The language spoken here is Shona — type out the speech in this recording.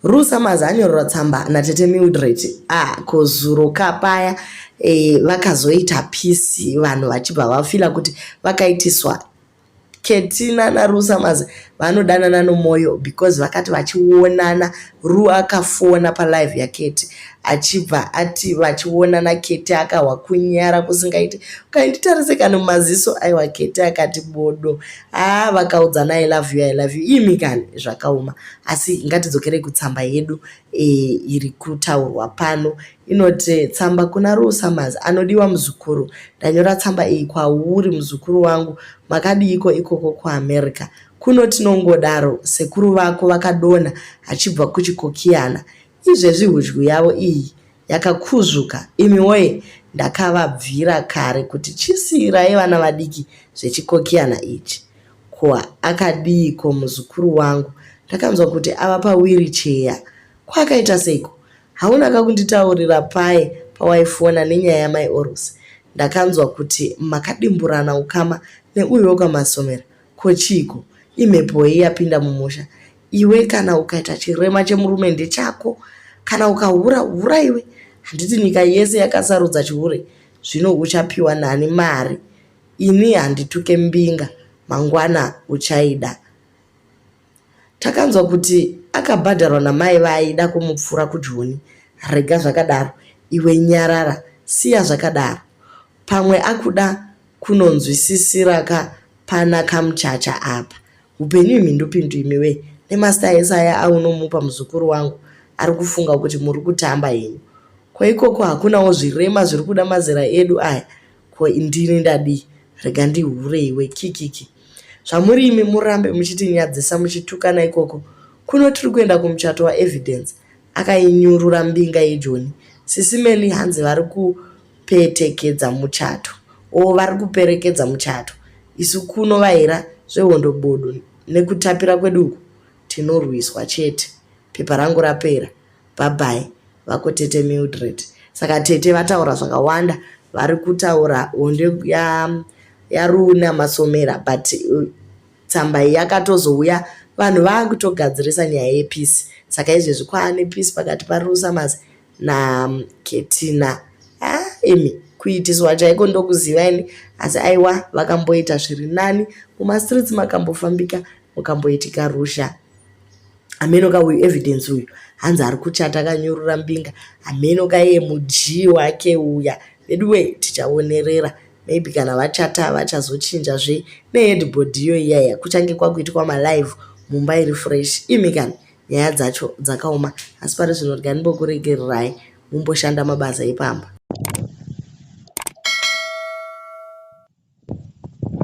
Rusamazi anyorerwa tsamba natete Mildred ah, ko zuro ka paya eh, vakazoita pisi vanhu vachibva vafila kuti vakaitiswa Ketina naRusamazi vanodanana nomoyo because vakati vachionana Ru akafona palive yaketi achibva ati vachionana Keti akahwa kunyara kusingaiti ukainditarise kana mumaziso aiwa Keti akati bodo haa vakaudzana i love you i love you imi kani zvakaoma asi ngatidzokerei kutsamba yedu e, iri kutaurwa pano inoti tsamba kuna rusamazi anodiwa muzukuru ndanyora tsamba iyi kwauri muzukuru wangu makadiiko ikoko kuamerica kuno tinongodaro sekuru vako vakadona achibva kuchikokiyana Izvezvi hudyu yavo iyi yakakuzvuka imi woye ndakavabvira kare kuti chisiirai vana vadiki zvechikokiyana ichi. Ko akadiiko muzukuru wangu ndakanzwa kuti ava pawiricheya. Ko akaita seiko? Hauna ka kunditaurira paye pawaifona nenyaya yamai Orusi? Ndakanzwa kuti makadimburana ukama neuyo wekwaMasomera. Ko chiiko? Imhepoi yapinda mumusha? Iwe kana ukaita chirema chemurume ndechako. Kana ukahura, hura iwe. Handiti nyika yese yakasarudza chihure? Zvino uchapiwa nani mari? Ini handituke mbinga, mangwana uchaida. Takanzwa kuti akabhadharwa namai vaaida kumupfura kujoni. Rega zvakadaro iwe nyarara siya zvakadaro. Pamwe akuda kunonzwisisiraka pana kamuchacha apa. Hupenyu imhindupindu imiwe nemasta ese aya aunomupa muzukuru wangu ari kufunga kuti muri kutamba henyu. Ko ikoko hakunawo zvirema zviri kuda mazera edu aya Ko ndini ndadii? Rega ndihure iwe kikiki. Zvamuri imi murambe muchitinyadzisa muchitukana ikoko kuno tiri kuenda kumuchato waEvidence. Akainyurura mbinga yeJoni. Sisi Melly hanzi vari kupetekedza muchato. O vari kuperekedza muchato. Isu kuno vaira zvehondo bodo nekutapira kwedu uku tinorwiswa chete. Pepa rangu rapera. Bhabhai. Vako tete Mildred. Saka tete vataura zvakawanda vari kutaura honde ya yaruna masomera but uh, tsamba iyi yakatozouya vanhu vakutogadzirisa nyaya yepeace saka izvezvi kwaane peace pakati parusamas na um, ketina ah, imi kuitiswa chaiko ndokuziva ini asi aiwa vakamboita zviri nani mumastreets makambofambika mukamboitika rusha ameno ka uyu evidence uyu hanzi ari kuchata akanyurura mbinga ameno ka iye mudyi wake uya veduwe tichaonerera maybe kana vachata vachazochinja zve neheadboard iyo iyaya kuchange kwakuitwa malive mumba iri fresh imi kana nyaya dzacho dzakaoma asi pari zvino riganimbokuregererai mumboshanda mabasa epamba